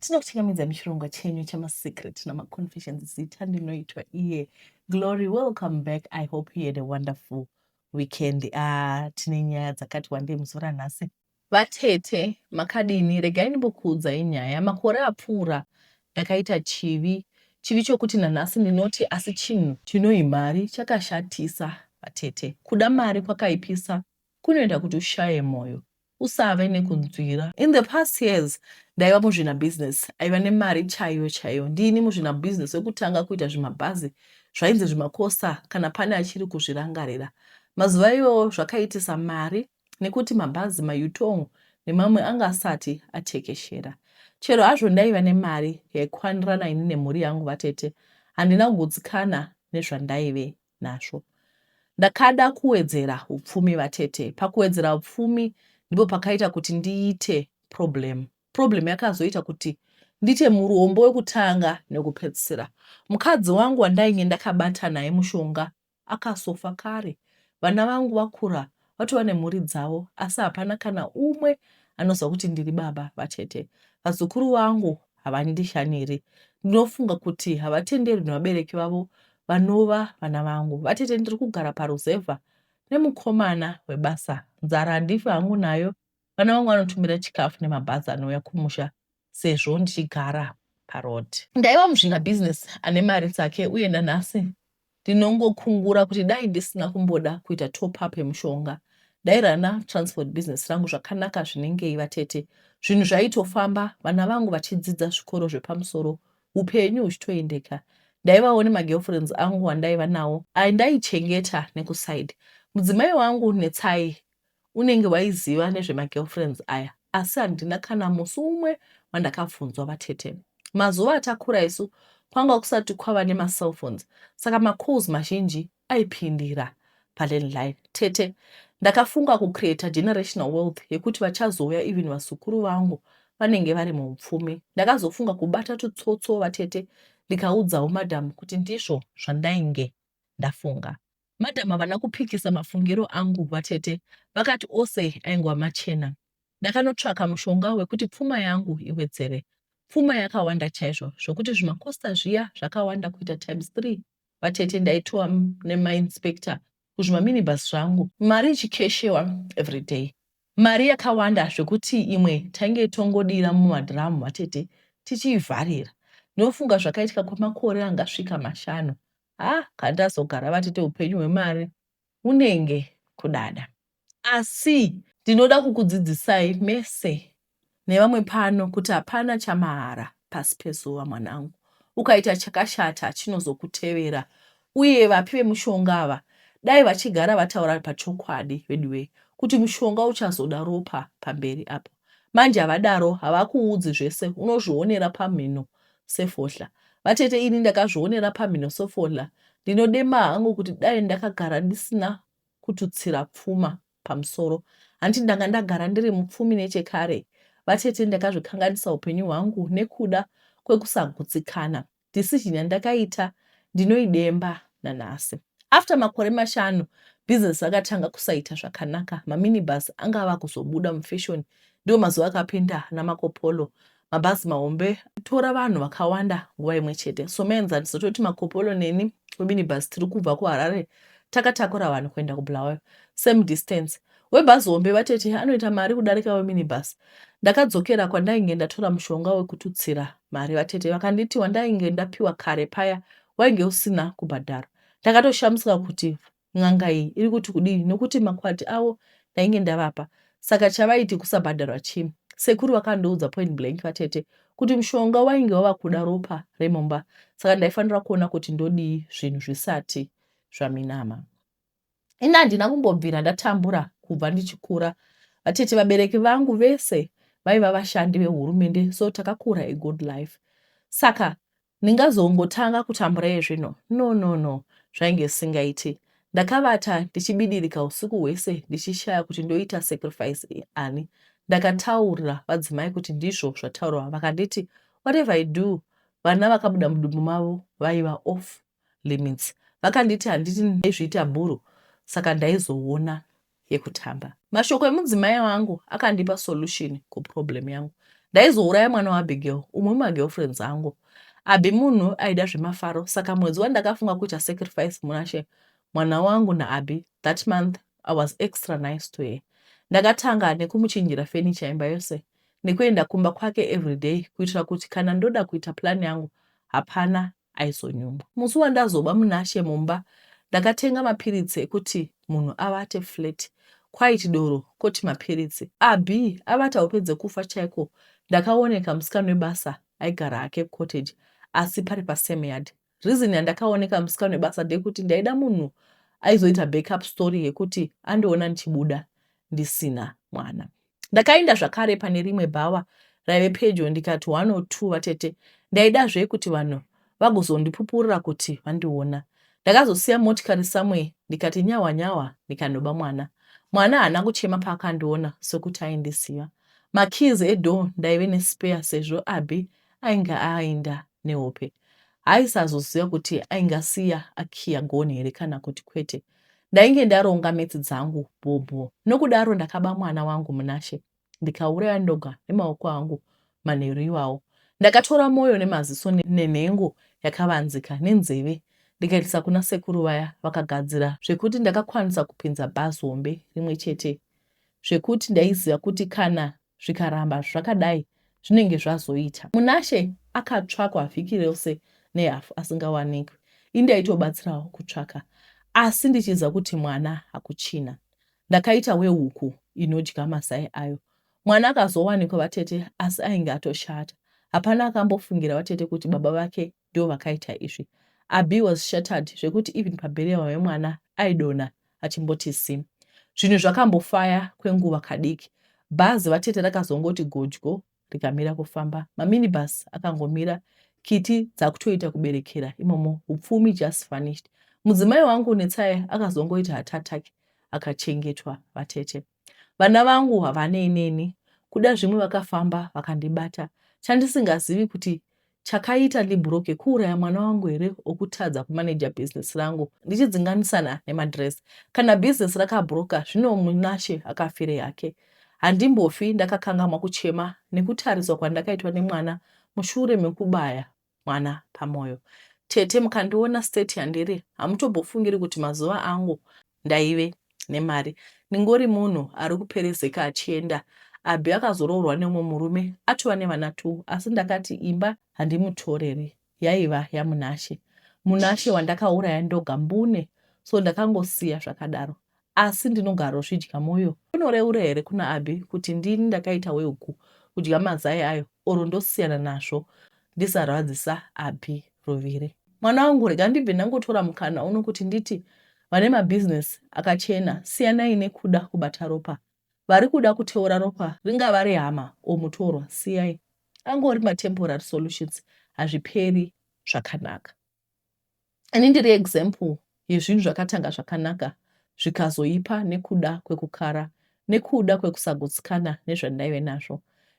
Tinokuchingamidza muchirongwa chenyu chemasecret namaconfessions zita ndinoitwa iye Glory. Welcome back. I hope you had a wonderful weekend. Ah, tine nyaya dzakati wandei musi ranhasi. Vatete makadini, regai ndimbokuudzai nyaya. Makore apfuura ndakaita chivi, chivi chokuti nanhasi ndinoti asi chinhu chinohi mari chakashatisa. Vatete, kuda mari kwakaipisa kunoita kuti ushaye moyo usave nekunzwira. In the past years ndaiva muzvina business aiva nemari chaiyo chaiyo. Ndini muzvina business wekutanga kuita zvimabhazi zvainzi zvimakosa kana pane achiri kuzvirangarira. Mazuva iyoyo zvakaitisa mari nekuti mabhazi mayutong nemamwe anga asati atekeshera. Chero hazvo ndaiva nemari yaikwanirana ini nemhuri yangu vatete handina kugutsikana nezvandaive nazvo. Ndakada kuwedzera upfumi vatete. Pakuwedzera upfumi ndipo pakaita kuti ndiite problem. Problem yakazoita kuti ndiite murombo wekutanga nekupedzisira. Mukadzi wangu wandainge ndakabata naye mushonga akasofa kare. Vana vangu vakura vatova nemhuri dzavo asi hapana kana umwe anoziva kuti ndiri baba vatete vazukuru vangu havandishaniri ndinofunga kuti havatenderwi nevabereki vavo vanova vana vangu vatete ndiri kugara paruzevha nemukomana webasa nzara handifi hangu nayo vana vangu vanotumira chikafu nemabhazi anouya kumusha sezvo ndichigara paroad. Ndaiva muzvina business ane mari dzake uye nanhasi ndinongokungura kuti dai ndisina kumboda kuita top up yemushonga ndairana transport business rangu zvakanaka zvinengei vatete zvinhu zvaitofamba vana vangu vachidzidza zvikoro zvepamusoro upenyu huchitoendeka ndaivawo nemagirlfriends angu andaiva nawo ndaichengeta nekuside mudzimai wangu netsai Unenge waiziva nezvemagirlfriends aya asi handina kana musi umwe wandakabvunzwa vatete. Mazuva atakura isu kwanga kusati kwava nemacellphones saka macalls mazhinji aipindira palandline. Tete ndakafunga kucreata generational wealth yekuti vachazouya even vazukuru vangu vanenge vari muupfumi. Ndakazofunga kubata tutsotso vatete ndikaudzawo madam kuti ndizvo zvandainge ndafunga. Madam havana kupikisa mafungiro angu vatete vakati ose aingwa machena. Ndakanotsvaka mushonga wekuti pfuma yangu iwedzere. Pfuma yakawanda chaizvo zvokuti zvimakosta zviya zvakawanda kuita times three vatete ndaitoa nemainspector kuzvimaminibus zvangu mari ichikeshewa everyday mari yakawanda zvekuti imwe tainge tongodira mumadhiramu vatete tichiivharira ndinofunga zvakaitika kwemakore angasvika mashanu ha kandazogara vatete upenyu hwemari unenge kudada asi ndinoda kukudzidzisai mese nevamwe pano kuti hapana chamahara pasi pezuva mwanangu ukaita chakashata chinozokutevera uye vapi vemushonga ava dai vachigara vataura pachokwadi veduwee kuti mushonga uchazoda ropa pamberi apo Manje havadaro havakuudzi zvese unozvionera pamhino sefohla vatete ini ndakazvionera pamhino sefohla ndinodema hangu kuti dai ndakagara ndisina kututsira pfuma pamusoro hanti ndanga ndagara ndiri mupfumi nechekare vatete ndakazvikanganisa upenyu hwangu nekuda kwekusagutsikana decision yandakaita ndinoidemba nanhasi. After makore mashanu business rakatanga kusaita zvakanaka. Maminibus anga ava kuzobuda mufashion ndiwo mazuva akapinda namakopolo mabhazi mahombe tora vanhu vakawanda nguva imwe chete so maenzaniso toti makopolo neni weminibus tiri kubva kuharare takatakura vanhu kuenda kubulawayo same distance Webhazi hombe vatete anoita mari kudarika weminibus. Ndakadzokera kwandainge ndatora mushonga wekututsira mari vatete vakanditi wandainge ndapiwa kare paya wainge usina kubhadharwa. Ndakatoshamisika kuti n'anga iyi iri kuti kudii nokuti makwati avo ndainge ndavapa. Saka chavaiti kusabhadharwa chii? Sekuru vakandoudza point blank vatete kuti mushonga wainge wava kuda ropa remumba saka ndaifanira kuona kuti ndodii zvinhu zvisati zvaminama. ini handina kumbobvira ndatambura kubva ndichikura vatete vabereki vangu vese vaiva vashandi vehurumende so takakura a good life saka ndingazongotanga kutambura yezvino no no no zvainge zvisingaiti ndakavata ndichibidirika usiku hwese ndichishaya kuti ndoita sacrifice ani ndakataurira vadzimai kuti ndizvo zvataurwa vakanditi whatever i do vana vakabuda mudumbu mavo vaiva off limits vakanditi handiti ndaizviita bhuru saka ndaizoona yekutamba. Mashoko emudzimai wangu akandipa solution kuproblem yangu. Ndaizouraya mwana waAbigail, umwe wemagirlfriends angu. Abi munhu aida zvemafaro saka mwedzi wandakafunga kuita sacrifice munashe mwana wangu naAbi that month I was extra nice to her. Ndakatanga nekumuchinjira furniture imba yose nekuenda kumba kwake everyday kuitira kuti kana ndoda kuita plan yangu hapana aizonyumwa. Musi wandazoba Munashe mumba ndakatenga mapiritsi ekuti munhu avate flat quite doro koti mapiritsi. Abby avata hope dzekufa chaiko ndakaoneka musikana webasa aigara hake cottage asi pari pasame yard. Reason yandakaoneka musikana webasa ndeyekuti ndaida munhu aizoita backup story yekuti andiona ndichibuda ndisina mwana. Ndakaenda zvakare pane rimwe bhawa raive pedyo ndikati one or two vatete ndaida zve kuti vanhu vagozondipupurira kuti vandiona. Ndakazosiya motikari somewhere ndikati nyahwa nyahwa ndikanoba mwana. Mwana haana kuchema paakandiona sokuti aindiziva. Makeys edoor ndaive nespare sezvo Abby ainge aenda nehope. Haisazoziva kuti aingasiya akiya gonhi here kana kuti kwete. Ndainge ndaronga metsi dzangu bhobho nokudaro ndakaba mwana wangu Munashe ndikauraya ndoga nemaoko angu manheru iwawo. Ndakatora moyo nemaziso nenhengo yakavanzika nenzeve ndikaitisa kuna sekuru vaya vakagadzira zvekuti ndakakwanisa kupinza bhazi hombe rimwe chete zvekuti ndaiziva kuti kana zvikaramba zvakadai zvinenge zvazoita munashe akatsvakwa vhiki rose nehafu asingawanikwi ini ndaitobatsirawo kutsvaka asi ndichiziva kuti mwana hakuchina ndakaita wehuku inodya mazai ayo mwana akazowanikwa vatete asi ainge atoshata hapana akambofungira vatete kuti baba vake ndo vakaita izvi abi was shattered zvekuti even pabheriwa wemwana aidona achimboti sim. Zvinhu zvakambofaya kwenguva kadiki. Bhazi vatete rakazongoti godyo rikamira kufamba. Maminibus akangomira kiti dzakutoita kuberekera imomo upfumi just vanished. Mudzimai wangu Netsai akazongoita hatataki akachengetwa vatete. Vana vangu havanei neni, kuda zvimwe vakafamba vakandibata chandisingazivi kuti chakaita ndibhuroke kuuraya mwana wangu here okutadza kumanager business rangu ndichidzinganisana nemadress. Kana business rakabhuroka zvino Munashe akafirei hake. Handimbofi ndakakangamwa kuchema nekutariswa kwandakaitwa nemwana mushure mekubaya mwana pamoyo tete mukandiona state yandiri hamutobofungiri kuti mazuva angu ndaive nemari ndingori munhu ari kuperezeka achienda abhi akazoroorwa neumwe murume atova nevana two asi ndakati imba handimutoreri yaiva yamunashe munashe wandakauraya ndoga mbune so ndakangosiya zvakadaro asi ndinogarozvidya moyo. Unoreura here kuna Abby kuti ndini ndakaita wehuku kudya mazai ayo or ndosiyana nazvo ndisarwadzisa Abby Ruvire. Mwana wangu rega ndibve ndangotora mukana uno kuti nditi vane mabusiness akachena siyanai nekuda kubata ropa vari kuda kuteura ropa ringava rehama or mutorwa siyai angori matemporary solutions hazviperi zvakanaka. ini ndiri example yezvinhu zvakatanga zvakanaka zvikazoipa nekuda kwekukara nekuda kwekusagutsikana nezvandaive nazvo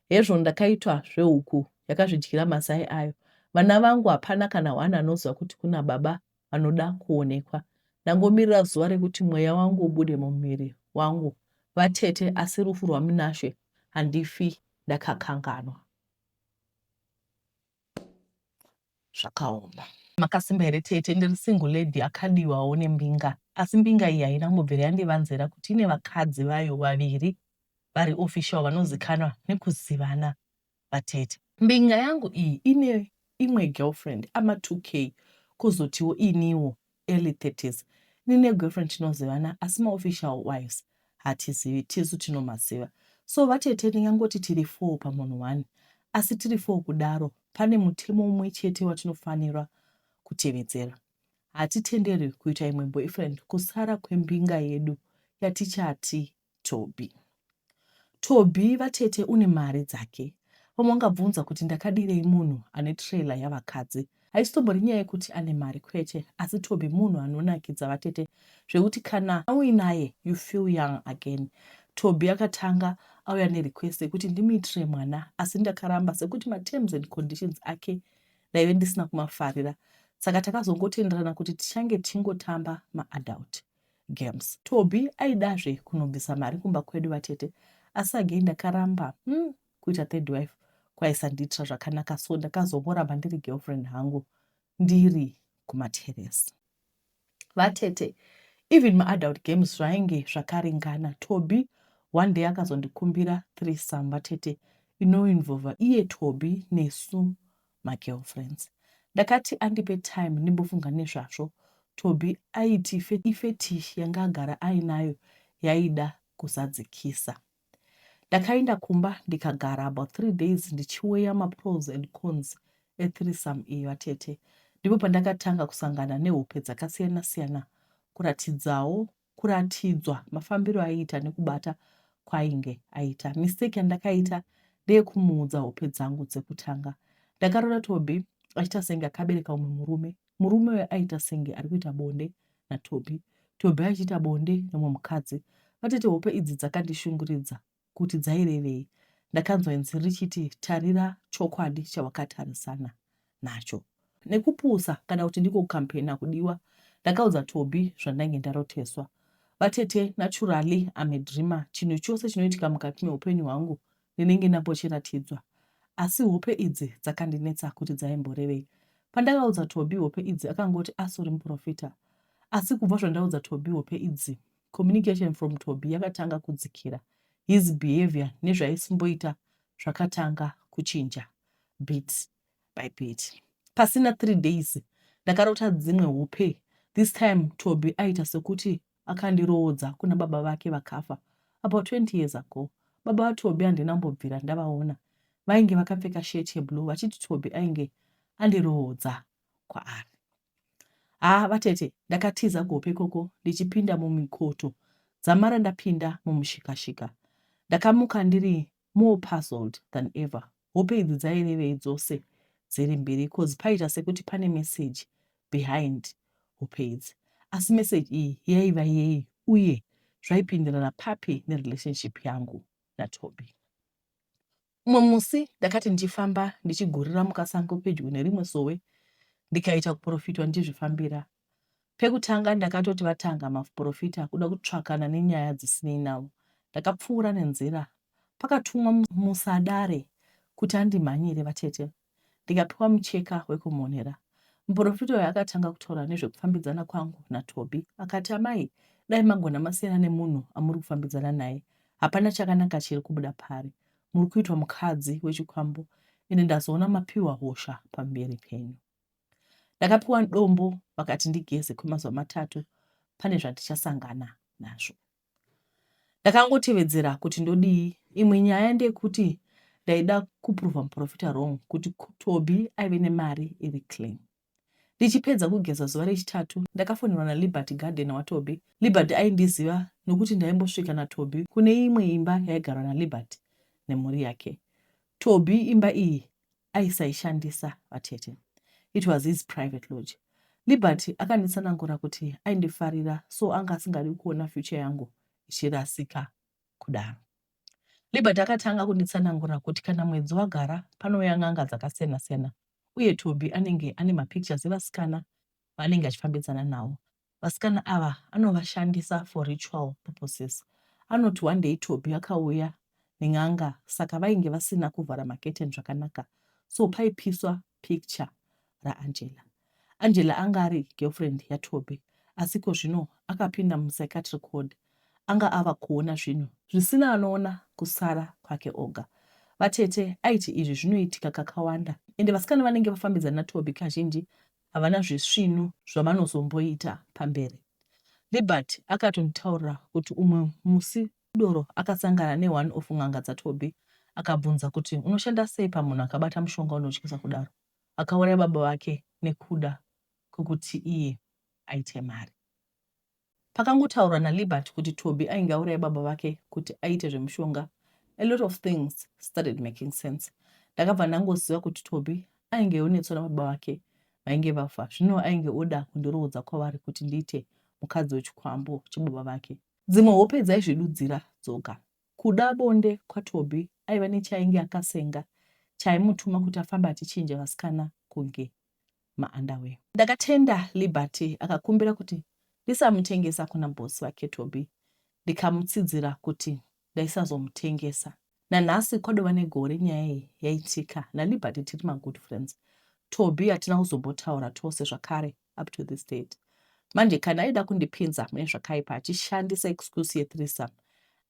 hezvo ndakaitwa zvehuku yakazvidyira mazai ayo vana vangu hapana kana one anoziva kuti kuna baba vanoda kuonekwa ndangomirira zuva rekuti mweya wangu ubude mumuviri wangu vatete asi rufu rwaminashe handifi ndakakanganwa zvakaoma. Makasimba here tete ndiri single lady akadiwawo nembinga asi mbinga iyi haina kumbobvira yandivanzira kuti ine vakadzi vayo vaviri vari official vanozikanwa nekuzivana vatete. Mbinga yangu iyi ine imwe girlfriend ama 2k kozotiwo iniwo early 30s ini ne girlfriend tinozivana asi ma official wives hatizivi tisu tinomaziva so vatete ndingangoti tiri four pamunhu one asi tiri four kudaro pane mutemo umwe chete watinofanirwa kutevedzera hatitenderwi kuita imwe boyfriend kusara kwembinga yedu yatichati Tobi. Tobi vatete une mari dzake. Vamwe vangabvunza kuti ndakadirei munhu ane trailer yavakadzi. Haisitombori nyaya yekuti ane mari kwete asi Tobi munhu anonakidza vatete zvekuti kana uinaye you feel young again. Tobi akatanga auya nerequest yekuti ndimuitire mwana asi ndakaramba sekuti materms and conditions ake ndaive ndisina kumafarira saka takazongotenderana kuti tichange tichingotamba maadult. games. Tobi aidazve kunobvisa mari kumba kwedu vatete asi again ndakaramba hmm, kuita third wife kwaisandiitira zvakanaka so ndakazongoramba ndiri girlfriend hangu ndiri kumateresi. Vatete even maadult games zvainge zvakaringana. Tobi one day akazondikumbira threesome vatete inoinvolva iye Tobi nesu magirlfriends. Ndakati andipe time ndimbofunga nezvazvo. Tobi aiti ifetish yanga agara ainayo yaida kuzadzikisa. Ndakaenda kumba ndikagara about three days ndichiweya mapros and cons ethrisam iyo atete. Ndipo pandakatanga kusangana nehope dzakasiyana-siyana kuratidzawo kuratidzwa mafambiro aiita nekubata kwainge aita mistake yandakaita ndeyekumuudza hope dzangu dzekutanga ndakarora tobi achiita senge akabereka umwe murume murume uyo aita senge ari kuita bonde natobi tobi achiita bonde nemwe mukadzi vatete hope idzi dzakandishunguridza kuti dzairevei ndakanzwa inzwi richiti tarira chokwadi chawakatarisana nacho nekupusa kana kuti ndiko kukampena kudiwa ndakaudza tobi zvandainge ndaroteswa vatete naturally am a dreamer chinhu chose chinoitika mukati meupenyu hwangu ndinenge ndambochiratidzwa asi hope idzi dzakandinetsa kuti dzaimborevei pandakaudza tobi hope idzi akangoti asori muprofita asi kubva zvandaudza tobi hope idzi communication from Tobi yakatanga kudzikira. His behavior nezvaisimboita zvakatanga kuchinja bit by bit. Pasina three days ndakarota dzimwe hope. This time Tobi aita sekuti akandiroodza kuna baba vake vakafa about 20 years ago. Baba vaTobi handina mbobvira ndavaona. Vainge vakapfeka shirt yeblue vachiti Tobi ainge andiroodza kwaari. haa vatete ndakatiza kuhope ikoko ndichipinda mumikoto dzamara ndapinda mumushikashika ndakamuka ndiri more puzzled than ever hope idzi dzairevei dzose dziri mbiri cause paita sekuti pane message behind hope idzi asi message iyi yaiva yei uye zvaipindirana papi nerelationship yangu natobi Umwe musi ndakati ndichifamba ndichigurira mukasango pedyo nerimwe sowe ndikaita kuprofitwa ndichizvifambira. Pekutanga ndakatoti vatanga maprofita kuda kutsvakana nenyaya dzisinei navo. Ndakapfuura nenzira pakatumwa musadare kuti andimhanyire vatete. ndikapiwa mucheka wekumhonera. Muporofita uyu akatanga kutaura nezvekufambidzana kwangu naTobi. Akati, Amai, dai magona masiyana nemunhu amuri kufambidzana naye. Hapana chakanaka chiri kubuda paari. Muri kuitwa mukadzi wechikwambo, ende ndazoona mapiwa hosha pamberi penyu. Ndakapiwa dombo vakati ndigeze kwemazuva matatu pane zvandichasangana nazvo. Ndakangotevedzera kuti ndodii. Imwe nyaya ndeyekuti ndaida kuprova muprofita wrong kuti Tobi aive nemari iri clean. Ndichipedza kugeza zuva rechitatu, ndakafonerwa naLiberty gardener waTobi. Liberty aindiziva nokuti ndaimbosvika naTobi kune imwe imba yaigarwa naLiberty nemhuri yake. Tobi imba iyi aisaishandisa vatete it was his private lodge liberty akanditsanangura kuti aindifarira so anga asingadi kuona future yangu ichirasika kudaro liberty akatanga kunditsanangura kuti kana mwedzi wagara panouya n'anga dzakasiyana-siyana uye tobi anenge ane mapictures evasikana vaanenge achifambidzana navo. Vasikana ava anovashandisa for ritual purposes. Anoti one day Tobi akauya nen'anga saka vainge vasina kuvhara maketeni zvakanaka so paipiswa picture raAngela. Angela anga ari girlfriend yaTobi asi ko zvino akapinda mupsychiatric ward anga ava kuona zvinhu zvisina anoona kusara kwake oga. Vatete aiti izvi zvinoitika kakawanda ende vasikana vanenge vafambidzana naTobi kazhinji havana zvisvinu zvavanozomboita pamberi. Liberty akatonditaurira kuti umwe musi Doro akasangana ne one of n'anga dza Tobi akabvunza kuti unoshanda sei pamunhu akabata mushonga unotyisa kudaro akauraya baba vake nekuda kwekuti iye aite mari. Pakangotaurwa naLiberty kuti Toby ainge auraya baba vake kuti aite zvemushonga, a lot of things started making sense. Ndakabva ndangoziva kuti Toby ainge onetswa nababa vake vainge vafa, zvino ainge oda kundoroodza kwavari kuti ndiite mukadzi wechikwambo chebaba vake. Dzimwe hope dzaizvidudzira dzoga. Kuda bonde kwaToby aiva nechainge akasenga chaimutuma kuti afambe achichinja vasikana kunge maunderwear. Ndakatenda Liberty akakumbira kuti ndisamutengesa kuna boss vake Tobi ndikamutsidzira kuti ndaisazomutengesa. Nanhasi kwadova negore nyaya iyi yaitika naLiberty tiri magood friends. Tobi hatina kuzombotaura tose zvakare up to this date. Manje kana aida kundipinza mune zvakaipa achishandisa excuse yethreesome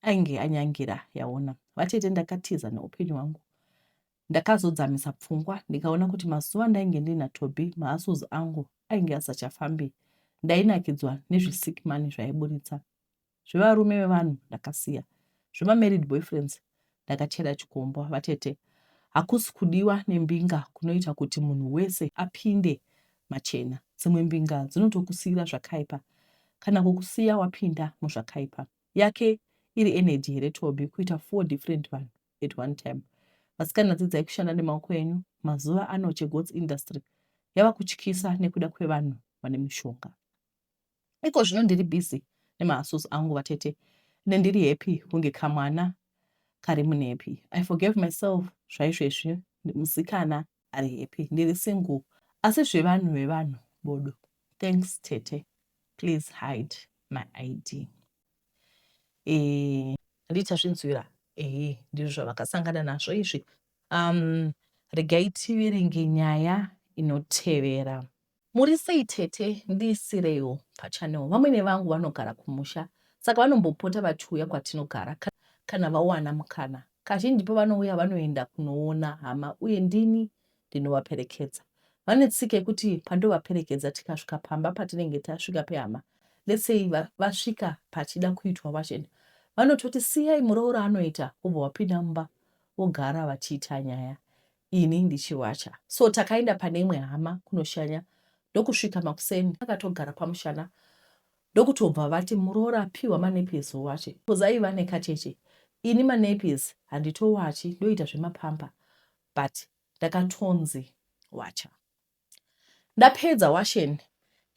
ainge anyangira yaona. Vatete ndakatiza neupenyu hwangu Ndakazodzamisa pfungwa ndikaona kuti mazuva ndainge ndina Toby maassos angu ainge asachafambi. Ndainakidzwa nezvisick money zvaiburitsa. Zvevarume vevanhu ndakasiya. Zvema married boyfriends ndakachera chikombwa vatete. Hakusi kudiwa nembinga kunoita kuti munhu wese apinde machena. Dzimwe mbinga dzinotokusiyira zvakaipa kana kukusiya wapinda muzvakaipa. Yake iri energy here Toby kuita four different vanhu. at one time vasikana dzidzai kushanda nemaoko enyu mazuva ano chegots industry yava kutyisa nekuda kwevanhu vane mishonga iko zvino ndiri busy nemahasus angu vatete ne ndiri happy kunge kamwana kari munepi i forgave myself zvaizvezvi musikana ari happy ndiri single asi zvevanhu vevanhu bodo thanks tete please hide my id eh, ndichazvinzwira ehe ndizvo zvavakasangana nazvo izvi um regai tiverenge nyaya inotevera Muri sei tete ndiisireiwo pachannel vamwene vangu vanogara kumusha saka vanombopota vachiuya kwatinogara kana vawana mukana kazhinji pavanouya vanoenda kunoona hama uye ndini ndinovaperekedza vane tsika yekuti pandovaperekedza tikasvika pamba patinenge tasvika pehama letsei vasvika pachida kuitwa vachena vanototi siyai muroora anoita kubva wapinda mumba vogara vachiita nyaya ini ndichiwacha so takaenda pane imwe hama kunoshanya ndokusvika makuseni akatogara pamushana ndokutobva vati muroora apiwa manepis owache bcause aiva nekacheche ini manepis handitowachi ndoita zvemapampa but ndakatonzi wacha Ndapedza washen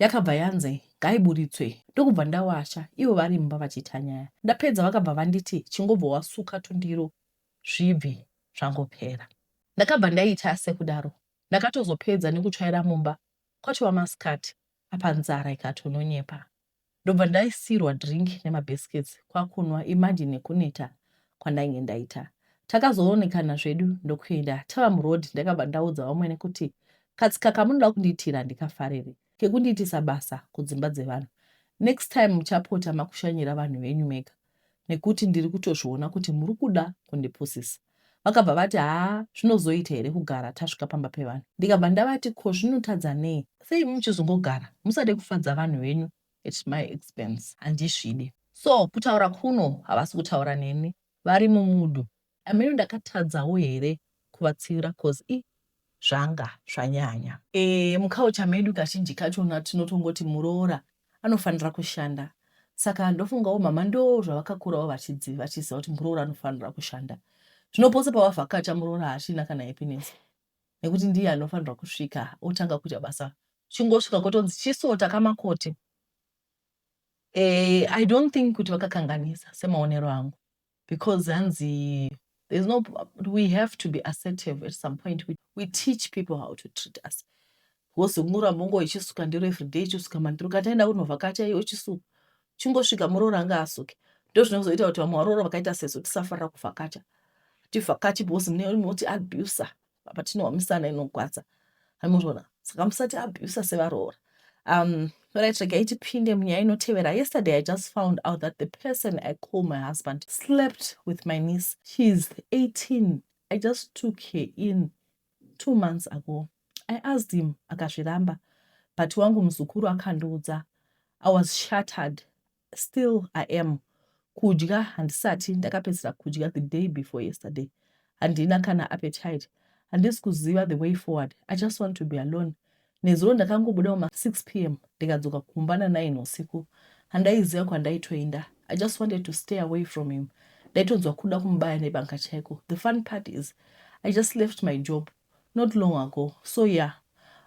yakabva yanzi ngaiburitswe ndokubva ndawasha ivo vari mumba vachiita nyaya. Ndapedza vakabva vanditi chingobva wasuka tundiro zvibve zvangopera. Ndakabva ndaita sekudaro ndakatozopedza nekutsvaira mumba kwatova masikati apa nzara ikatononyepa. Ndobva ndaisirwa drink nema biscuits kwakunwa imagine nekuneta kwandainge ndaita. Takazoonekana zvedu ndokuenda tava muroad ndakabva ndaudza vamwene kuti katsika kamunoda kundiitira handikafariri kekundiitisa basa kudzimba dzevanhu next time muchapota makushanyira vanhu venyu mega nekuti ndiri kutozviona kuti muri kuda kundipusisa vakabva vati haa zvinozoita here kugara tasvika pamba pevanhu ndikabva ndavati ko zvinotadza nei sei muchizongogara musade kufadza vanhu venyu at my expense handizvide so kutaura kuno havasi kutaura neni vari mumudu Hameno ndakatadzawo here kuvatsiura coz ii zvanga zvanyanya. Eeh muculture medu kazhinji kachona tinotongoti muroora anofanira kushanda saka ndofungawo mhamha ndoo zvavakakurawo vachiziva vachiziva kuti muroora anofanira kushanda zvino pose pavavhakacha muroora haachina kana happiness nekuti ndiye anofanirwa kusvika otanga kuita basa chingosvika kotonzi chisota kamakote eeh i don't think kuti vakakanganisa semaonero angu because hanzi there's no we have to be assertive at some point we, we teach people how to treat us wozongura mongo ichisuka ndiro everyday ichisuka mandiro kataenda kunovhakacha iyo ichisuka chingosvika muroora anga asuke ndozvinozoita kuti vamwe varoora vakaita sesu tisafarira kuvhakacha tivhakachi bhozi mune moti abuser apa tinowa misana inogwadza amozvona saka musati abusa sevaroora um right regai tipinde munyaya inotevera yesterday i just found out that the person i call my husband slept with my niece she's 18 i just took her in two months ago i asked him akazviramba but wangu muzukuru akandiudza i was shattered still i am kudya handisati ndakapedzera kudya the day before yesterday handina kana appetite handisi kuziva the way forward i just want to be alone nezuro ndakangobuda muma 6 p m ndikadzoka kumba na9 usiku handaiziva kwandaitoenda i just wanted to stay away from him ndaitonzwa kuda kumubaya nebanga chaiko the fun part is i just left my job not long ago so yeah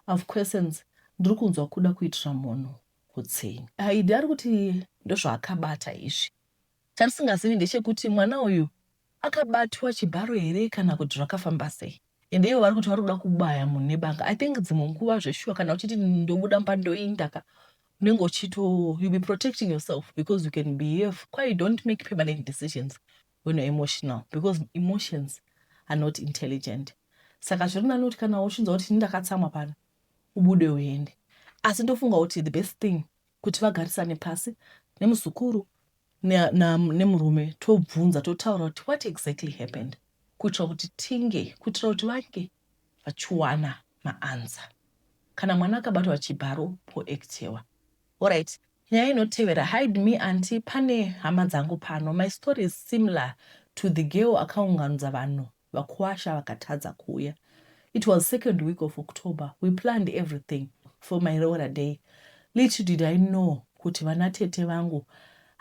of questions ndiri kunzwa kuda kuitira munhu kutsenga. Aida ari kuti ndozvaakabata izvi. Chandisingazivi ndechekuti mwana uyu akabatwa chibharo here kana kuti zvakafamba sei. Ende ivo vari kuti vari kuda kubaya munhu nebanga. I think dzimwe nguva zveshuwa kana uchiti ndobuda mba ndoinda ka unenge uchito you be protecting yourself because you can behave kwaye don't make permanent decisions when you're emotional because emotions are not intelligent saka zvirinani kuti kana uchinzwa kuti ini ndakatsamwa pano ubude uende asi ndofunga kuti the best thing kuti vagarisane pasi nemuzukuru nemurume ne, ne tobvunza totaura kuti what exactly happened kuitira kuti tinge kuitira kuti vange vachiwana maansa kana mwana akabatwa achibharo poektewa orit nyaya inotevera hide me anti pane hama dzangu pano my story is similar to the girl akaunganudza vanhu Vakwasha vakatadza kuuya. It was second week of October. We planned everything for my roora day. Little did I know kuti vana tete vangu,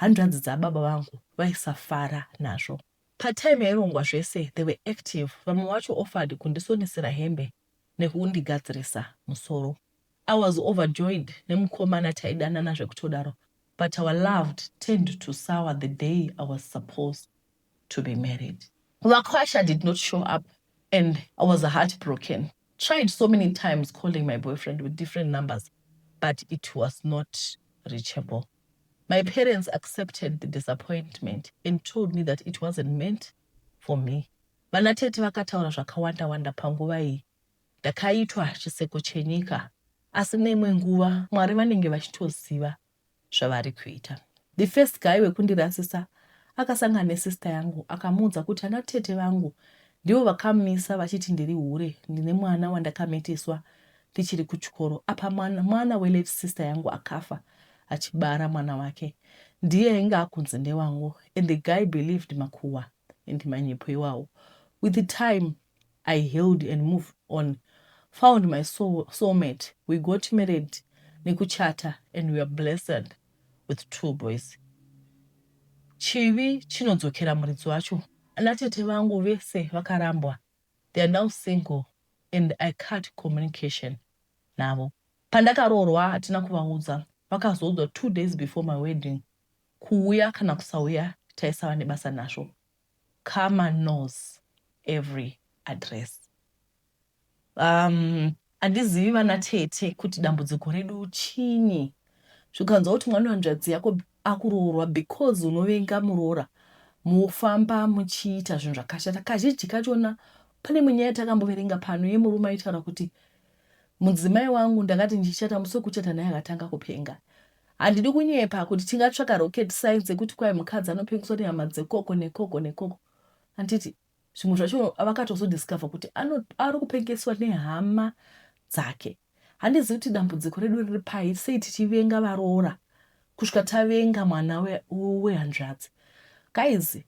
hanzvadzi dzababa vangu, vaisafara nazvo. Patime yairongwa zvese, they were active. Vamwe vacho offered kundisonesera hembe nekundigadzirisa musoro. I was overjoyed nemukomana taidanana zvekutodaro but our loved turned to sour the day I was supposed to be married. Vakwasha did not show up and I was heartbroken. Tried so many times calling my boyfriend with different numbers but it was not reachable. My parents accepted the disappointment and told me that it wasn't meant for me. Vana tete vakataura zvakawanda wanda panguva iyi. Ndakaitwa chiseko chenyika. Asi neimwe nguva Mwari vanenge vachitoziva zvavari kuita. The first guy wekundirasisa akasangana nesister yangu akamuudza kuti ana tete vangu ndivo vakamisa vachiti ndiri hure ndine mwana wandakamitiswa tichiri kuchikoro apa mwana, mwana welate sister yangu akafa achibara mwana wake ndiye ainge akunzi ndewangu and the guy believed makuhwa and manyepo iwawo with the time I healed and moved on found my soul, soulmate we got married nekuchata and weare blessed with two boys chivi chinodzokera muridzi wacho ana tete vangu vese vakarambwa they are now single and i cut communication navo pandakaroorwa hatina kuvaudza vakazoudzwa two days before my wedding kuuya kana kusauya taisava nebasa nazvo Karma knows every address umm andizivi vana tete kuti dambudziko redu chinyi zvikanzwa kuti mwana wanzvadzi yako akuroorwa because unovenga muroora mofamba muchiita zvinhu zvakashata kazhinji kachona pane imwe nyaya yatakamboverenga pano yemurume aitaura kuti mudzimai wangu ndakati ndichata musi wekuchata naye akatanga kupenga Handidi kunyepa kuti tingatsvaka rocket science yekuti kwai mukadzi anopengeswa nehama dzekoko nekoko nekoko. Handiti zvimwe zvacho vakatozodiscover kuti ari kupengeswa nehama dzake. Handizivi kuti dambudziko redu riri pai sei tichivenga varoora kusvika tavenga mwana wehanzvadzi we guys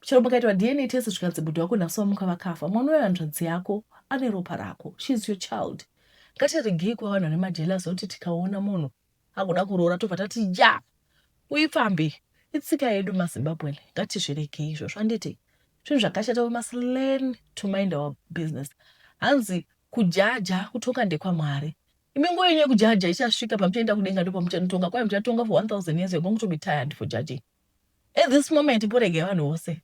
chero mukaitwa dna test zvikanzi bhudhi wako nhasi wamuka vakafa mwana uyo hanzvadzi yako ane ropa rako sheis your child ngatiregei kuva vanhu vane majelas oti tikaona munhu akuda kuroora tobva tati ja uipfambi itsika yedu mazimbabwen ngatizviregei izvozvo handiti zvinhu zvakashata we must learn to mind our business hanzi kujaja kutonga ndekwamwari imi nguva yenyu yekujaja ichasvika pamuchaenda kudenga ndopamuchanotonga kwaye muchatonga for 1000 years you're going to be tired for judging at this moment poregei vanhu vose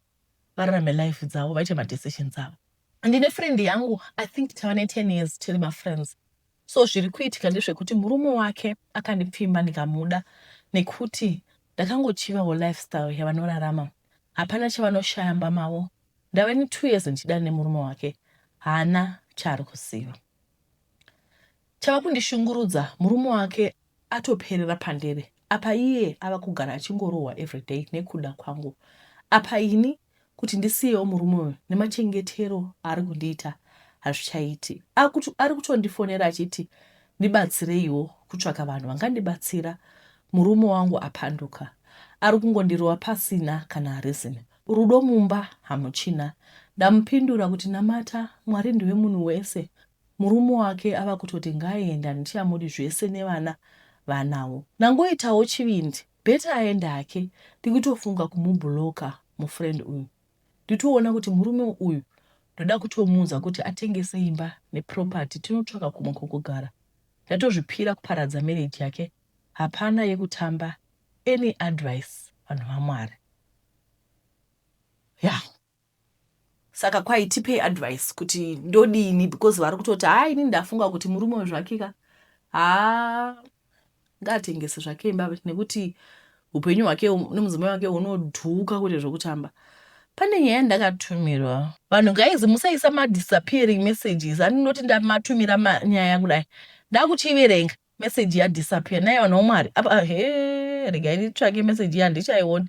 vararame life dzavo vaite madecisions avo ndine friend yangu i think tava ne10 years tiri mafriends So zviri kuitika ndezvekuti murume wake akandipfimba ndikamuda nekuti ndakangochivawo lifestyle yavanorarama. Hapana chavanoshaya mba mavo. Ndave ne two years ndichidana nemurume wake haana chaari kuziva. Chava kundishungurudza murume wake atoperera pandiri apa iye ava kugara achingorohwa everyday nekuda kwangu apa ini kuti ndisiyewo murume uyu nemachengetero aari kundiita hazvichaiti akuti ari kutondifonera achiti ndibatsireiwo kutsvaka vanhu vangandibatsira murume wangu apanduka ari kungondirova pasina kana reason rudo mumba hamuchina ndamupindura kuti namata mwari ndiwe munhu wese Murume wake ava kutoti ngaaende handichaamudi zvese nevana vaanavo. Ndangoitawo chivindi better aende hake ndikutofunga kumublocker mufriend uyu nditoona kuti murume uyu ndoda kutomuudza kuti atengese imba neproperty tinotsvaka kumwe kwekugara. Ndatozvipira kuparadza marriage yake hapana yekutamba any advice vanhu vaMwari. Yah. Saka kwai tipei advice kuti ndodini because vari kutoti haa ini ndafunga kuti murume uyu zvake ka haa ngaatengese zvake imba nekuti upenyu hwake nemudzimai wake hunodhuka kuti zvokutamba pane nyaya ndakatumirwa vanhu guys musaisa madisappearing messages andinoti ndamatumira nyaya kudai ndakuchiverenga message ya disappear naiva no mari apa ah, he regai nditsvake message iya handichaiona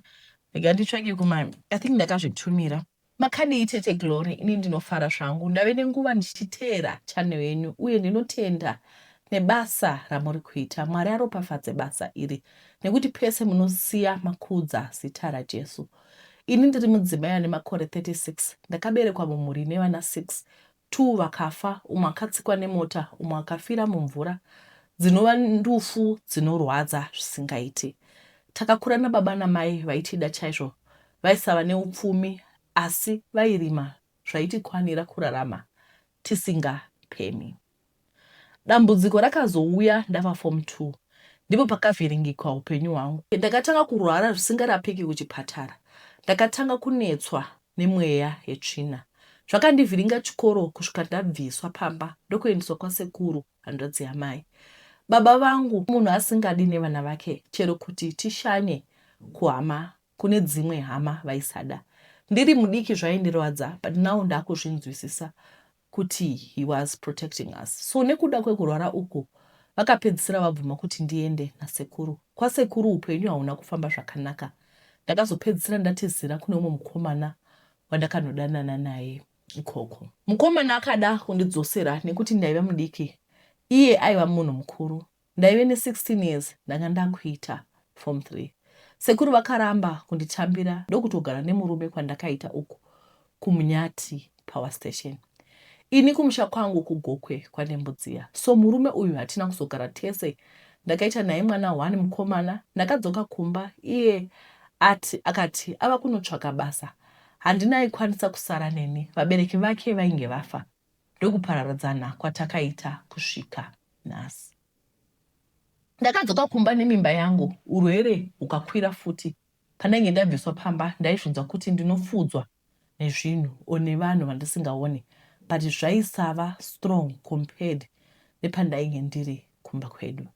regai nditsvake kuma i think ndakazvitumira makadii tete glory ini ndinofara zvangu ndave nenguva ndichiteera channel yenyu uye ndinotenda nebasa ramuri kuita mwari aropafadze basa iri nekuti pese munosiya makudza zita rajesu ini ndiri mudzimai ane makore 36 ndakaberekwa mumhuri ine vana 6 Two vakafa, umwe akatsikwa nemota, umwe akafira mumvura. Dzinova ndufu dzinorwadza zvisingaiti. Takakura nababa namai vaitida chaizvo, vaisava neupfumi asi vairima zvaitikwanira kurarama tisingapemi. Dambudziko rakazouya ndava form two ndipo pakavhiringikwa upenyu hwangu. Ndakatanga kurwara zvisingarapiki kuchipatara. Ndakatanga kunetswa nemweya yetsvina. Zvakandivhiringa chikoro kusvika ndabviswa pamba ndokuendeswa kwasekuru hanzvadzi yamai. Baba vangu munhu asingadi nevana vake chero kuti tishanye kuhama kune dzimwe hama vaisada. Ndiri mudiki zvaindirwadza but now ndakuzvinzwisisa kuti he was protecting us so nekuda kwekurwara uku vakapedzisira vabvuma kuti ndiende nasekuru kwasekuru upenyu hauna kufamba zvakanaka ndakazopedzisira ndatizira kune umwe mukomana wandakanodanana naye ikoko mukomana akada kundidzosera nekuti ndaiva mudiki iye aiva munhu mukuru Ndaive ne 16 years ndanga ndakuita form three. Sekuru vakaramba kunditambira ndokutogara nemurume kwandakaita uku kuMnyati power station. Ini kumusha kwangu kuGokwe kwaNembudziya so murume uyu hatina kuzogara tese. Ndakaita naye mwana one mukomana. Ndakadzoka kumba iye ati akati ava kunotsvaka basa. Handina aikwanisa kusara neni vabereki vake vainge vafa. ndokupararadzana kwatakaita kusvika nhasi. Ndakadzoka kumba nemimba yangu urwere hukakwira futi. Pandainge ndabviswa pamba ndaizvinzwa kuti ndinofudzwa nezvinhu or nevanhu vandisingaone but zvaisava strong compared nepandainge ndiri kumba kwedu.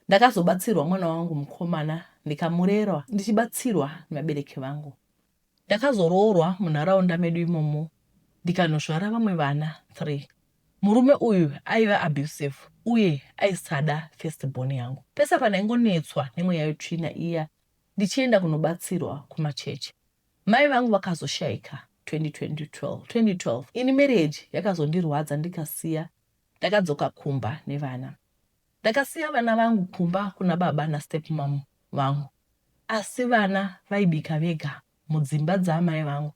Ndakazobatsirwa mwana wangu mukomana ndikamurerwa ndichibatsirwa nevabereki vangu. Ndakazoroorwa munharaunda medu imomo ndikanosvara vamwe vana three. Murume uyu aiva abusive uye aisada first born yangu. Pese pandaingonetswa nemweya yetsvina iya ndichienda kunobatsirwa kumachechi. Mai vangu vakazoshaika 2012. 2012 ini marriage yakazondirwadza ndikasiya ndakadzoka kumba nevana. Ndakasiya vana vangu kumba kuna baba nastepmom vangu asi vana vaibika vega mudzimba dzaamai vangu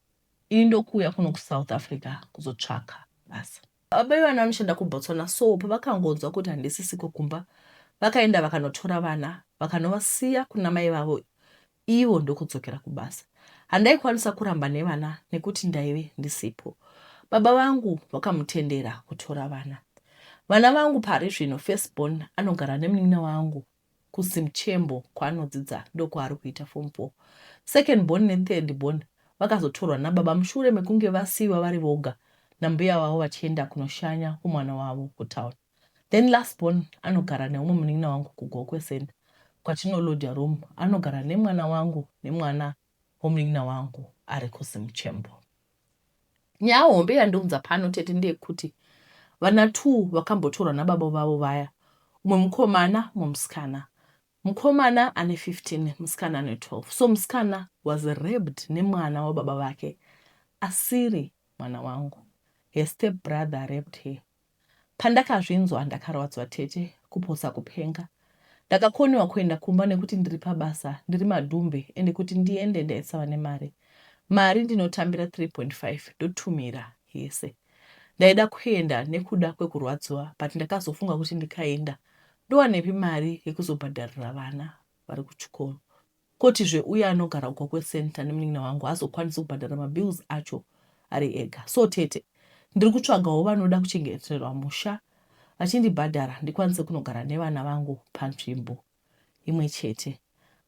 ini ndokuuya kuno kuSouth Africa kuzotsvaka basa. Baba vevana vanoshanda kuBotswana so pavakangonzwa kuti handisisiko kumba vakaenda vakanotora vana vakanovasiya kuna mai vavo ivo ndokudzokera kubasa. Handaikwanisa kuramba nevana nekuti ndaive ndisipo. Baba vangu vakamutendera kutora vana. Vana vangu pari zvino first born anogara nemunin'ina wangu kuZimchembo kwaanodzidza ndokwaari kuita form four. Second born nethird born vakazotorwa nababa mushure mekunge vasiiwa vari voga nambuya vavo vachienda kunoshanya kumwana wavo kutown. then last born anogara neumwe munin'ina wangu kugokwe send kwatinolodya room anogara nemwana wangu nemwana womunin'ina wangu ari kuzimuchembo nyaya hombe yandiunza pano tete ndeyekuti vana two vakambotorwa nababa vavo vaya umwe mukomana umwe musikana mukomana ane 15 musikana ane 12 so musikana was rabed nemwana wababa vake asiri mwana wangu her step brother rabed her Pandakazvinzwa ndakarwadzwa tete kupotsa kupenga. Ndakakonewa kuenda kumba nekuti ndiri pabasa ndiri madhumbe ende kuti ndiende ndaisava nemari. Mari ndinotambira 3.5 ndotumira yese. Ndaida kuenda nekuda kwekurwadziwa but ndakazofunga kuti ndikaenda ndowanepi mari yekuzobhadharira vana vari kuchikoro. Kotizve uya anogara uko kweCenter nemunin'ina wangu haazokwanisi kubhadhara mabills acho ari ega. So tete, ndiri kutsvagawo vanoda kuchengeterwa musha vachindibhadhara ndikwanise kunogara nevana vangu panzvimbo imwe chete.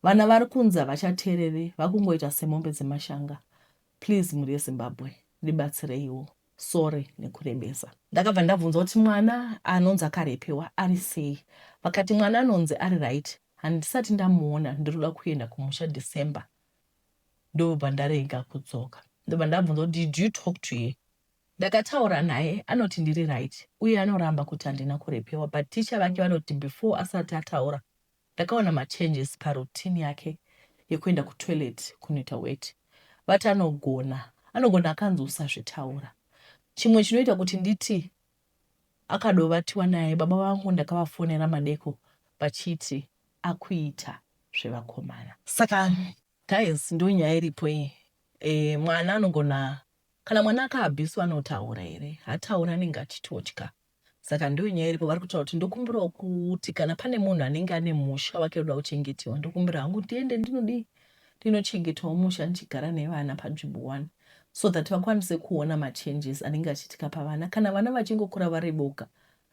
Vana vari kunzi havachatereri, vakungoita semombe dzemashanga. Please mhuri yeZimbabwe, ndibatsireiwo. Sorry nekurebesa. Ndakabva ndabvunza kuti mwana anonzi akarepewa ari sei. Vakati mwana anonzi ari right handisati ndamuona ndinoda kuenda kumusha December ndobva ndarega kudzoka. Ndobva ndabvunza kuti did you talk to her? Ndakataura naye anoti ndiri right uye anoramba kuti handina kurepewa but ticha vake vanoti before asati ataura Ndakaona machanges paroutine yake yekuenda kutoilet kunoita weti. Vati anogona anogona akanzi usazvitaura. Chimwe chinoita kuti nditi akadovatiwa naye baba vangu ndakavafonera madeko vachiti akuita zvevakomana. Saka guys ndonyaya iripo iyi e, mwana anogona kana mwana akaabhiswa anotaura here hataura anenge achitotya Saka ndiyo nyaya iripo, vari kutaura kuti ndokumbirawo kuti kana pane munhu anenge ane musha wake unoda kuchengetiwa, ndokumbira hangu ndiende ndinodii, ndinochengetawo musha ndichigara nevana panzvimbo one so that vakwanise kuona machanges anenge achiitika pavana kana vana vachingokura vari boga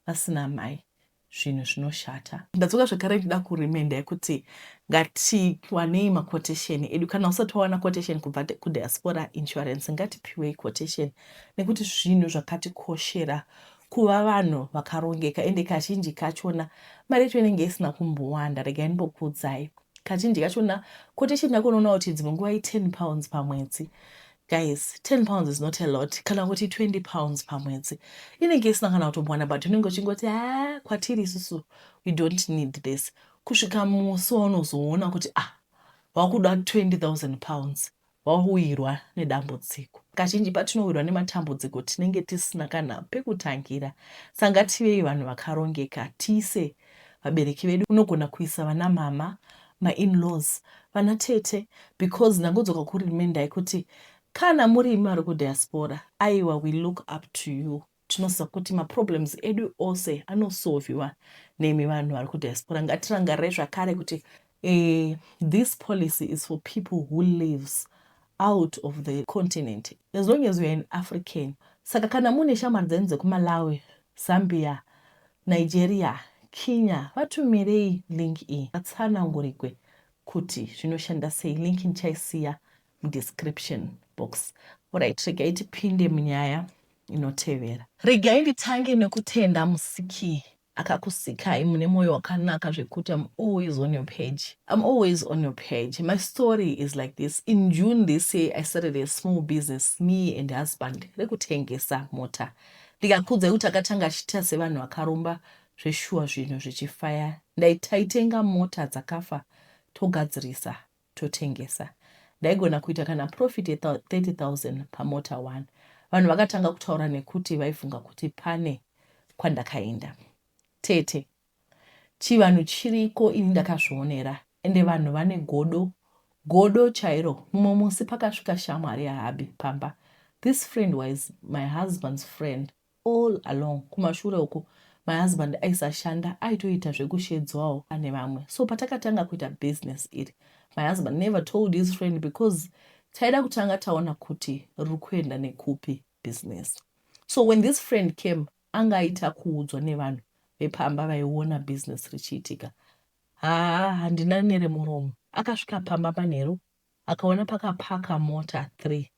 vasina mai zvinhu zvinoshata ndadzoka zvekare ndida kuremenda yekuti ngatiwanei maquotation edu kana usati wawana quotation kubva kudiaspora insurance ngatipiwei quotation nekuti zvinhu zvakatikoshera kuva vanhu vakarongeka ende kazhinji kachona mari yacho inenge isina kumbowanda regai ndimbokuudzai kazhinji kachona ko tichienda kunoona kuti dzimwe nguva i10 pounds pamwedzi guys 10 pounds is not a lot kana kuti 20 pounds pamwedzi inenge isina kana kutombowana but unenge uchingoti ha kwatiri isusu we don't need this kusvika musi waunozoona kuti ah wakuda 20 000 pounds Wawirwa nedambudziko. Kazhinji patinowirwa nematambudziko tinenge tisina kana pekutangira. Saka ngativei vanhu vakarongeka, tiise vabereki vedu. Unogona kuisa vanamhamha, mainlaws, vanatete because ndangodzoka kurimindai kuti kana muri imi vari kudiaspora, aiwa we look up to you. Tinoziva kuti maproblems edu ose anosolviwa nemi vanhu vari kudiaspora. Ngatirangarire zvakare kuti uh, this policy is for people who lives out of the continent as long as youare an african saka kana mune shamwari dzenyu dzekumalawi zambia nigeria kenya vatumirei link iyi vatsanangurigwe kuti zvinoshanda sei link ndichaisiya mudescription box orit regai tipinde munyaya inotevera regai nditange nekutenda musiki akakusikai mune mwoyo wakanaka zvekuti am always on your page am always on your page my story is like this in june this year i started a small business me and husband rekutengesa mota ndikakudzai kuti akatanga achiita sevanhu vakaromba zveshuwa zvinhu zvichifaya ndaitaitenga mota dzakafa togadzirisa totengesa. Ndaigona kuita kana profit ye 30000 pamota one. Vanhu vakatanga kutaura nekuti vaifunga kuti pane kwandakaenda. Tete, Chivanhu chiriko ini ndakazvionera ende vanhu vane godo godo chairo. Mumwe musi pakasvika shamwari yaHubby pamba. This friend was my husband's friend All along kumashure uko my husband aisashanda aitoita zvekushedzwawo ane vamwe so patakatanga kuita business iri my husband never told his friend because taida kutanga taona kuti riri kuenda nekupi business so when this friend came anga aita kuudzwa nevanhu vepamba vaiona business richiitika haa handina neremuromo akasvika pamba manheru Akaona pakaparker mota three.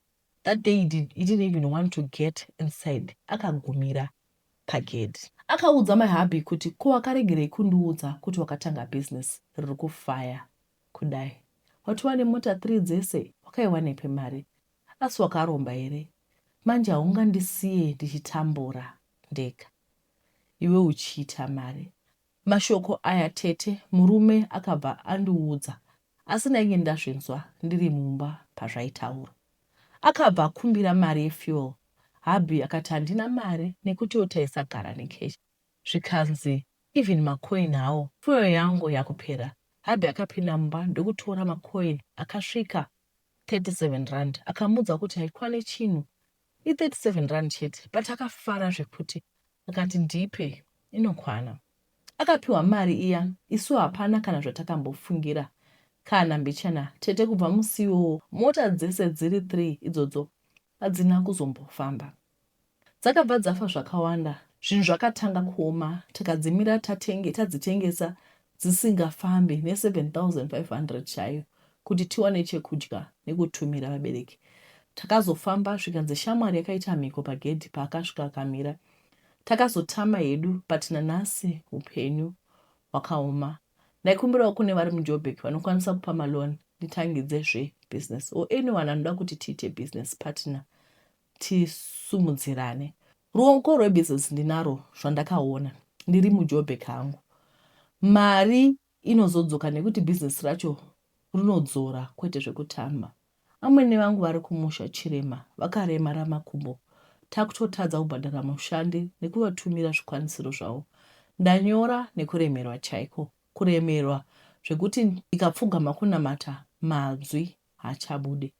That day he, did, he didn't even want to get inside akagumira pagedhi. Akaudza my hubby kuti ko wakaregerei kundiudza kuti wakatanga business riri kufaya kudai. Watova nemota three dzese wakaiwanepi mari? Asi wakaromba here? Manje haungandisiye ndichitambura ndega iwe uchiita mari. Mashoko aya tete murume akabva andiudza Asi ndainge ndazvinzwa ndiri mumba pazvaitaurwa. Akabva akumbira mari yefuel hubby akati handina mari nekutiwo taisagara necash zvikanzi even macoin hawo fuel yangu yakupera. Hubby akapinda mumba ndokutora macoin akasvika 37 rand akamuudza kuti haikwane chinhu I 37 rand chete but akafara zvekuti akati ndipe inokwana. Akapiwa mari iya isu hapana kana zvatakambofungira kana mbichana tete kubva musi iwowo mota dzese dziri 3 idzodzo hadzina kuzombofamba. Dzakabva dzafa zvakawanda zvinhu zvakatanga kuoma tikadzimira tatenge tadzitengesa dzisingafambi ne 7500 chaiyo kuti tiwane chekudya nekutumira vabereki. Takazofamba zvikanzi shamwari yakaita mhiko pagedhi paakasvika akamira. Takazotama hedu but nanhasi hupenyu hwakaoma. Ndaikumbirawo kune vari muJoburg vanokwanisa kupa maloan nditangidze zve business or anyone anoda kuti tiite business partner tisumudzirane ruoko rwebusiness ndinaro zvandakaona ndiri mujobek hangu mari inozodzoka nekuti business racho runodzora kwete zvekutamba amwene vangu vari kumusha chirema vakaremara makumbo takutotadza kubhadhara mushandi nekuvatumira zvikwanisiro zvavo ndanyora nekuremerwa chaiko kuremerwa zvekuti ndikapfugama kunamata manzwi hachabude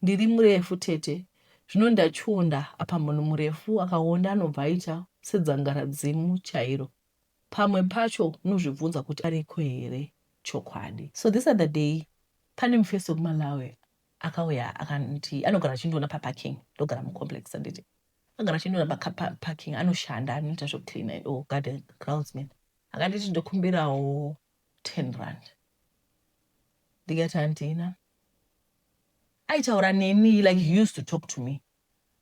ndiri murefu tete zvino ndachiwonda apa munhu murefu akawonda anobva aita sedzangaradzimu chairo pamwe pacho unozvibvunza kuti ariko here chokwadi so this other day pane mufesi wekumalawi akauya akanti anogara achindiona paparking ndogara mucomplex anditi agara achindiona paparking anoshanda anoita zvekucleana and all garden groundsman akanditi ndokumbirawo 10 rand ndikati handina aitaura neni like he used to talk to me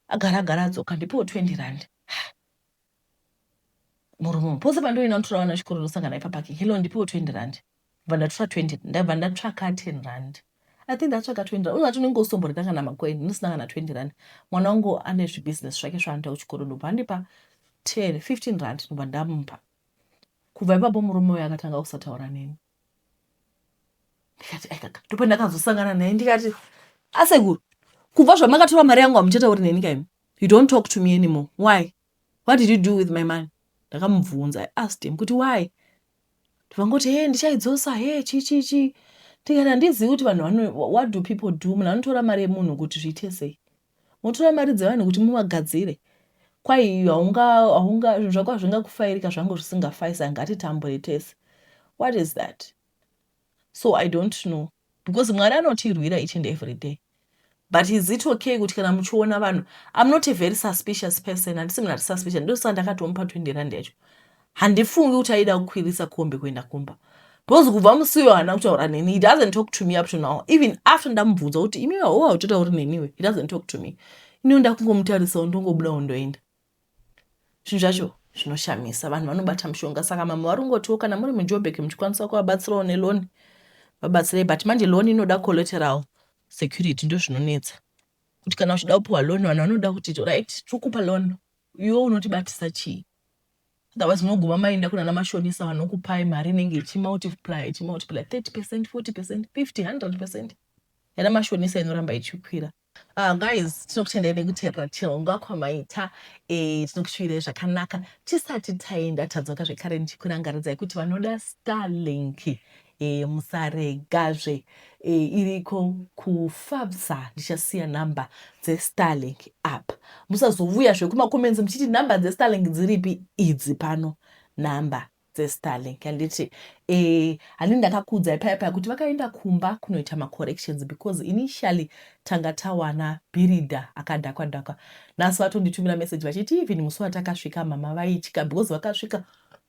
agara agara adzoka ndipiwo 20 rand murume pose pandoina ndotora vana chikoro ndosangana ipa parking hello ndipiwo 20 rand ndibva ndatora 20 ndabva ndatsvaka 10 rand i think ndatsvaka 20 rand unoti unenge usomboreka kana makoini ndisina kana 20 rand mwana wangu ane zvibusiness zvake zvaanoita kuchikoro ndobva andipa 10 15 rand ndobva ndamupa Kubva ipapo murume uyu akatanga kusataura neni ndikati aikaka ndopandakazosangana naye ndikati asekuru kubva zvamakatora mari yangu hamuchatauri neni kaimi you don't talk to me anymore why what did you do with my money ndakamubvunza i asked him kuti why ndivangoti he ndichaidzosa he chichichi ndikati handizivi kuti vanhu vano what do people do munhu anotora mari yemunhu kuti zviite sei Motora mari dzevanhu kuti muvagadzire kwai iyo haunga haunga zvinhu zvako hazvingakufairika zvangu zvisingafaisa ngatitambure tese what is that so i don't know because mwari anotirwira each and every day but is it okay kuti kana muchiona vanhu i'm not a very suspicious person handisi munhu ari suspicious ndosaka ndakatomupa 20 rand yacho handifungi kuti aida kukwirisa kombi kuenda kumba because kubva musi uyo haana kutaura neni he doesn't talk to me up to now even after ndamubvunza kuti imi vahowa utotauri neniwe he doesn't talk to me iniwo ndakungomutarisawo ndongobuda wondoenda zvinhu zvacho zvinoshamisa vanhu vanobata mushonga saka mama vari kungotiwo kana muri mujobek muchikwanisa kuvabatsirawo neloni vabatsirei but manje loni inoda collateral security ndo zvinonetsa kuti kana uchida kupiwa loni vanhu vanoda kuti right tiri kupa loni iwe unotibatisa chii Otherwise munoguma maenda kunana mashonisa vanokupai mari inenge ichimultiply ichimultiply 30 percent 40 percent 50 100 percent yana mashonisa inoramba ichikwira. Uh, guys tinokutendai nekuteerera chirongwa kwamaita e, tinokushuvirai zvakanaka tisati taenda tadzoka zvekare ndichikurangaridzai kuti vanoda starlink E, musarega zve e, iriko kufabsa ndichasiya number dze starlink apa musazovuya zve kuma comments muchiti number dze starlink dziripi idzi pano number dzestarlink handiti e eh, handii ndakakuudzai paya paya kuti vakaenda kumba kunoita macorrections because initially tanga tawana birida akadhakwa dhakwa nhasi vatonditumira message vachiti even musi watakasvika mama vaitya because vakasvika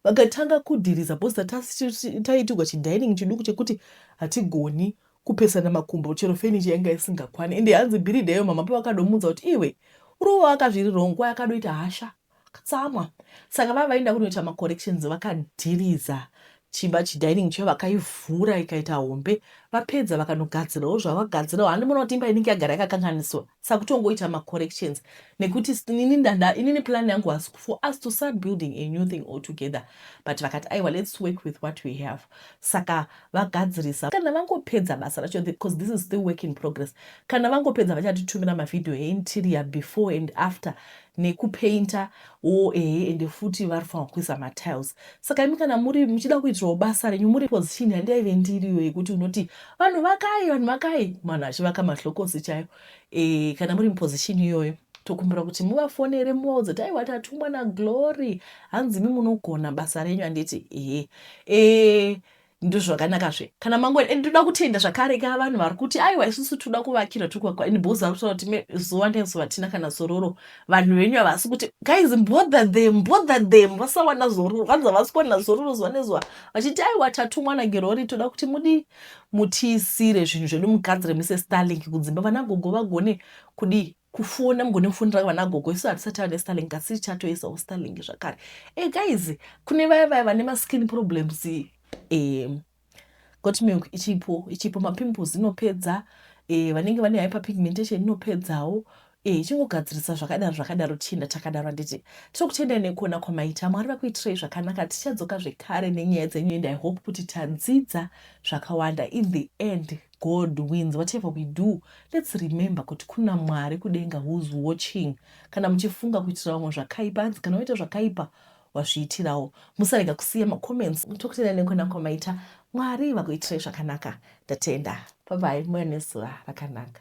Vakatanga kudhiriza booster tasi taiitirwa chidining chiduku chekuti hatigoni kupesana makumbo chero furniture yanga isingakwane ende hanzi bhiridha iyo mama pavakadomuudza kuti iwe urowo waka zviri wrong kwaye akadoita hasha katsamwa saka vava vaenda kunoita macorrections vakadhiriza chimba chidining chayo vakaivhura ikaita hombe vapedza vakanogadzirawo zvavagadzirawo handi muona kuti imba inenge yagara yakakanganiswa sakutongoita ma corrections nekuti inini ndada inini plan yangu was for us to start building a new thing all together but vakati aiwa let's work with what we have saka vagadzirisa kana vangopedza basa racho because this is still work in progress kana vangopedza vachatitumira mavhidhiyo einterior before and after neku painter wo ehe ende futi varifanirwa kuisa ma tiles saka imi kana muri muchida kuitirawo basa renyu muri position yandaive ndiriyo yekuti unoti vanhu vakai vanhu vakai vanhu vachivaka mahlokosi chayo e, kana muri muposition iyoyo tokumbira kuti muvafonere muvaudze kuti aiwa tatumwa naglory hanzi mi munogona basa renyu handiti ehe e, Ndozvakanaka zve kana mangwena and ndoda kutenda zvakare ka vanhu vari kuti aiwa isusu toda kuvakira tugwagwa and boza vari kutaura kuti zuva nezuva tina kana zororo vanhu venyu havasi kuti guys bother them bother them vasawana zororo vanzi havasi kuwana zororo zuva nezuva vachiti aiwa tatumwa nagerori toda kuti mudii mutiisire zvinhu zvedu mugadzire mise starlink kudzimba vana gogo vagone kudii kufona mugone kufonera vana gogo isu hatisati vane starling kasi tichatoisawo starling zvakare e guys kune vaya vaya vane maskin problems e, got milk ichipo ichipo mapimples inopedza e, vanenge vane hyper pigmentation inopedzawo e, ichingogadzirisa zvakadaro zvakadaro tichienda takadaro handiti tokutendai nekuona kwamaita mwari vakuitirei zvakanaka tichadzoka zvekare nenyaya dzenyu and i hope kuti tadzidza zvakawanda in the end God wins whatever we do let's remember kuti kuna Mwari kudenga who's watching kana muchifunga kuitira vamwe zvakaipa hanzi kana waita zvakaipa wazviitirawo musarega kusiya macomments tokutenda nekona kwamaita Mwari vakuitirai zvakanaka ndatenda bye bye muya nezuva rakanaka